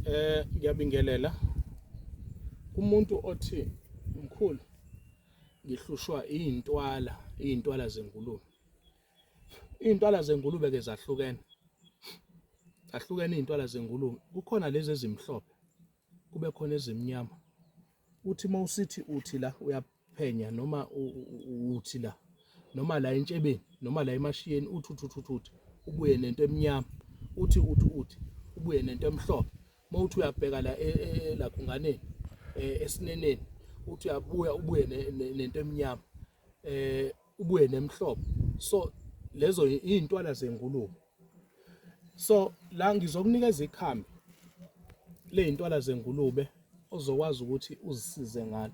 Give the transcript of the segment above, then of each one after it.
Eh ngiyabingelela umuntu othi mkhulu ngihlushwa izintwala izintwala zengulube izintwala zengulube ke zahlukene zahlukene izintwala zengulube kukhona lezi ezimhlophe kube khona ezimnyama uthi mawusithi uthi la phenya noma uthi la noma la entshebeni noma la emashiyeni uthi uthi uthi uthi ubuye nento emnyama uthi uthi uthi ubuye nento emhlophe uma uthi uyabheka la e, e, e, lakhunganeni esineneni uthi uyabuya ubuye nento emnyama eh ubuye nemhlophe so lezo izintwala zengulube so la ngizokunikeza ikhambi lezintwala zengulube ozokwazi ukuthi uzisize ngalo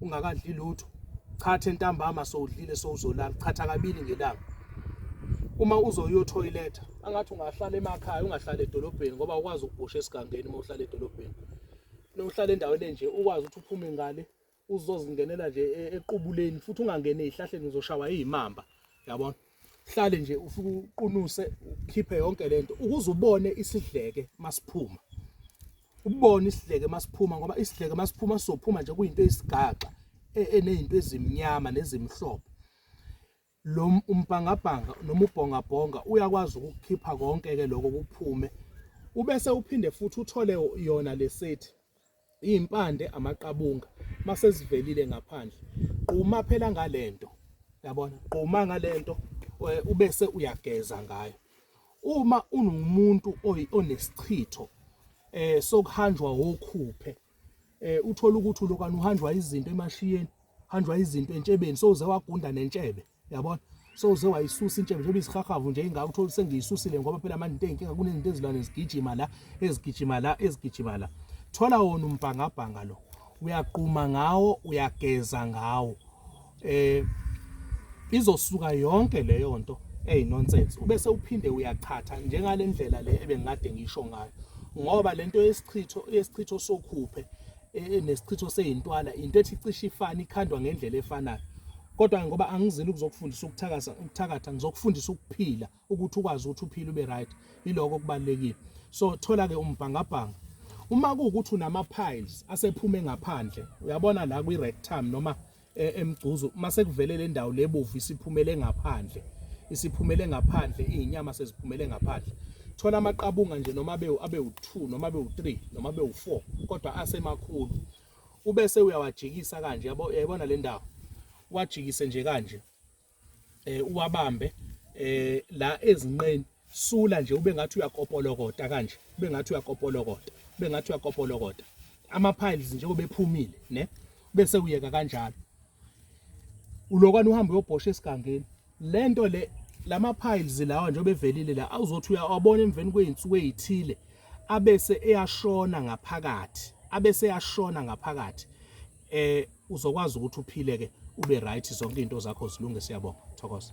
ungakadli lutho chatha entambama sowudlile sowuzolala chatha kabili ngelanga uma uzoyo toilet angathi ungahlala emakhaya ungahlala edolobheni ngoba ukwazi ukubhosha esigangeni uma uhlala edolobheni nohlala endaweni enje ukwazi ukuthi uphume ngale uzozingenela nje e, equbuleni futhi ungangene ezihlahleni uzoshawa izimamba yabona hlale nje ufike uqunuse ukhiphe yonke lento ukuze ubone isidleke masiphuma ubone isidleke masiphuma ngoba isidleke masiphuma sophuma nje kuyinto eyisigaxa e-, enezinto ezimnyama nezimhlophe lo umbhangabhanga noma ubhongabhonga uyakwazi ukukhipha konke ke lokho kuphume ubese uphinde futhi uthole yona lesethi izimpande amaqabunga masezivelile ngaphandle quma phela ngalento yabona quma ngalento eh, ubese uyageza ngayo uma unomuntu onesichitho eh sokuhanjwa wokhuphe eh uthola ukuthi lokani uhanjwa izinto emashiyeni hanjwa izinto entshebeni sowuze wagunda nentshebe yabona so uze wayisusa intshebe njengoba izihahavu nje ingaka uthola sengiyisusile ngoba phela manje into enkinga kunezinto ezilwane zigijima la ezigijima la ezigijima la thola wona umbhangabhanga lo uyaquma ngawo uyageza ngawo eh izosuka yonke leyo nto eyi nonsense ubese uphinde uyachatha njengale ndlela le ebengikade ngisho ngayo ngoba lento yesichitho yesichitho sokhuphe e, nesichitho seyintwala into ethi cishe ifana ikhandwa ngendlela efanayo kodwa ngoba angizile ukuzokufundisa ukuthakasa ukuthakatha ngizokufundisa ukuphila ukuthi ukwazi ukuthi uphile ube right iloko kubalekile so thola ke umbhangabhanga uma kuwukuthi unama piles asephume ngaphandle uyabona la kwi rectum noma e, emgcuzu mase kuvele le ndawo lebovu isiphumele ngaphandle isiphumele ngaphandle izinyama seziphumele ngaphandle thola amaqabunga nje noma abe abe u2 noma abe u3 noma abe u4 kodwa asemakhulu ubese uyawajikisa kanje yabo yayibona le ndawo wajikise nje kanje eh uwabambe eh la ezinqeni sula nje ube ngathi uyakopolokota kanje ube ngathi uyakopolokota ube ngathi uyakopolokota ama piles nje obephumile ne bese uyeka kanjalo ulokwana uhamba uyobhosha esigangeni lento le lama piles lawa nje obevelile la awuzothi uyawabona emveni kweinsuku ezithile abese eyashona ngaphakathi abese eyashona ngaphakathi eh uzokwazi ukuthi uphile ke ube right zonke izinto zakho zilunge siyabonga thokoza